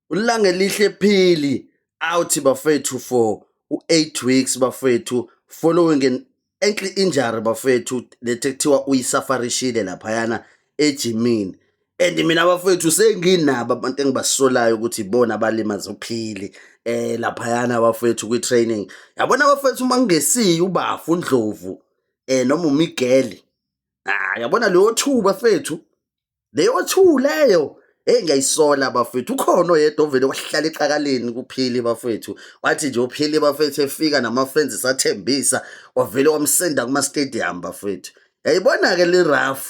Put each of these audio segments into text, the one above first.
uLangelihle Phili out bafethu for u-8 weeks bafethu following an ankle injury bafethu lethe kuthiwa uyisafarishile laphayana ejimini and mina bafethu senginabo abantu engibasolayo ukuthi ibona abalimaza uphili eh laphayana bafethu kwi-training yabona bafethu uma kungesiye ubafu undlovu eh noma umigeli ah yabona leyo thuba fethu leyo two leyo Hey ngiyayisola bafethu ukhona oyedwa ovele wahlala exakaleni kuphili bafethu wathi nje uphili bafethu efika nama friends sathembisa wavele wamsenda kuma stadium bafethu yayibona ke le rough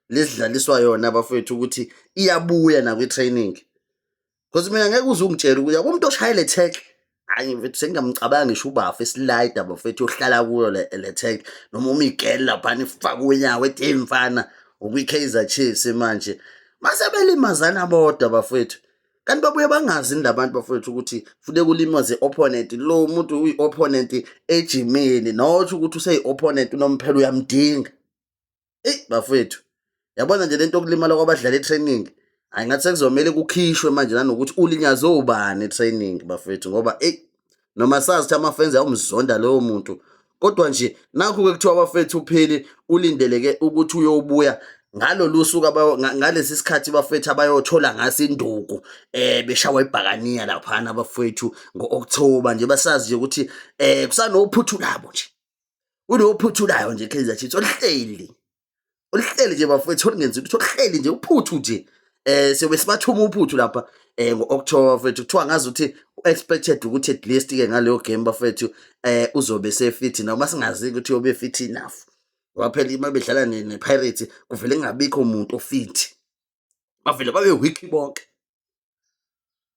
lesidlaliswa yona bafethu ukuthi iyabuya nakwi training Because mina ngeke uze ungitshele ukuthi akumuntu oshayele tech hayi mfethu sengingamcabanga ngisho ubafa esilida bafethu ohlala kuyo le tech noma uma igele laphana ifaka unyawo ethi hey mfana ukwi-Kaizer Chiefs manje mase belimazana bodwa bafethu kanti babuye bangazi ni labantu bafowethu ukuthi funeka ulimaze opponent lo muntu uyi opponent ejimini not ukuthi useyi opponent unomphela uyamdinga eyi bafowethu yabona nje lento yokulimala kwabadlali etraining hayi ngathi sekuzomele kukhishwe manje nanokuthi ulinyazwe ubani etraining bafowethu ngoba eyi noma sazi ukuthi amafenzi awumzonda lowo muntu kodwa nje nakhu-ke kuthiwa abafethu upheli ulindeleke ukuthi uyobuya ngalolu suku ngalesi sikhathi bafethu abayothola ngaso induku eh beshawa ibhakaniya laphana abafethu ngo-October nje basazi nje ukuthi eh kusanophuthu labo nje unophuthulayo nje Kaizer Chiefs oluhleli oluhleli nje bafowethu olungenzi ukuthi oluhleli nje uphuthu nje eh siyobe sibathuma uphuthu lapha eh ngo-October bafowethu kuthiwa ngazi ukuthi u-expected ukuthi at least ke ngaleyo game bafowethu eh uzobe sefit noma singazi ukuthi uyobe fit enough waphela uma bedlala ne-Pirates kuvele kungabikho umuntu ofit bavele babe weak bonke